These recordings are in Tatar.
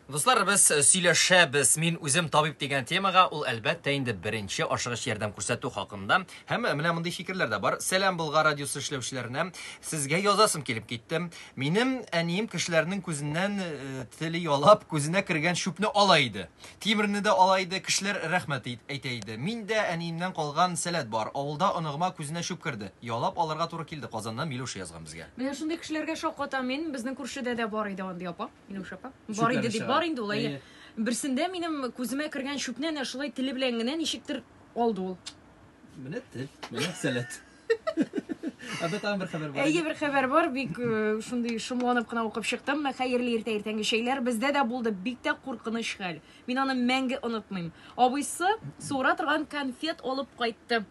Дуслар, без э, сөйләшәбез. Мин үзем табиб дигән темага, ул әлбәттә инде беренче ашыгыч ярдәм күрсәтү хакында. Һәм э, менә мондый фикерләр дә бар. Сәлам Болгар радиосы эшләүчеләренә. Сезгә язасым килеп китте. Минем әнием кешеләрнең күзеннән э, теле ялап, күзенә кергән чүпне ала иде. Тимерне дә ала иде, кешеләр рәхмәт әйтә иде. Мин дә, әниемнән калган сәләт бар, авылда оныгыма күзенә чүп керде. Ялап алырга туры килде, Казаннан Милуша язган безгә. Менә шундый кешеләргә шаккатам мин. Безнең күршедә дә бар иде андый апа, Милуша апа. Бар иде дип, бар инде ул, әйе. Берсендә минем күземә кергән чүпне әнә шулай теле белән генә ничектер алды ул. Менә тел, менә сәләт. Анда тагын бер хәбәр бар. Әйе, бер хәбәр бар. Бик э, шундый шомланып кына укып чыктым. Мә хәерле иртә иртәнге чәйләр бездә дә булды. Бик тә куркыныч хәл. Мин аны мәңге онытмыйм. Абыйсы суыра торган конфет алып кайтты.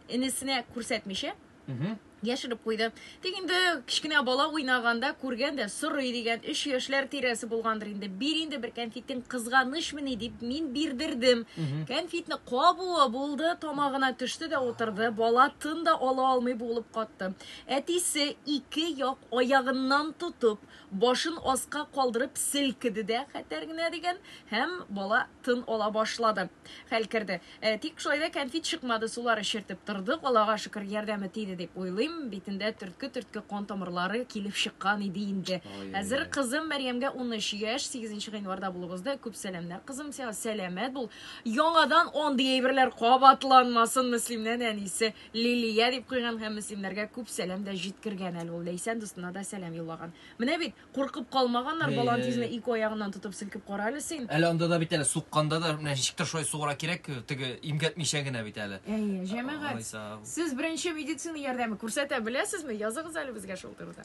Энесенә күрсәтмичә, Мгм. яшереп куйды. Тик инде кечкенә бала уйнаганда күргән дә сорый дигән 3 яшьләр тирәсе булгандыр инде. Бир инде бер конфет Кәнфитең кызганычмыни дип мин бирдердем. Кәнфитне кабуы булды, тамагына төште дә утырды. Бала тын да ала алмый булып катты. Әтисе ике як аягыннан тотып, башын аска калдырып селкеде дә хәтәр генә дигән һәм бала тын ала башлады. Хәл керде. Ә, тик шулай да кәнфит чыкмады, сулар эчертеп тордык, Аллага шөкер, ярдәме тиде дип уйлыйм, битендә төртке-төртке кан тамырлары килеп чыккан иде инде. Хәзер кызым Мәрьямгә унөч яшь, сигезенче гыйнварда булып узды. Күп сәламнәр, кызым, сиңа сәламәт бул. Яңадан андый әйберләр кабатланмасын, Мөслимнән әнисе Лилия дип куйган һәм мөслимнәргә күп сәлам дә җиткергән әле ул, Ләйсән дустына да сәлам юллаган. Менә бит, Куркып калмаганнар, Әйе. балан тизенә ике аягыннан тотып селкеп кара әле син. Әле анда да бит әле сукканда да менә ничектер шулай сугыра кирәк, теге имгәтмичә генә бит әле. Әйе, җәмәгать. Алайса, Сез беренче медицина ярдәме күрсәтә беләсезме? Языгыз әле безгә шул турыда.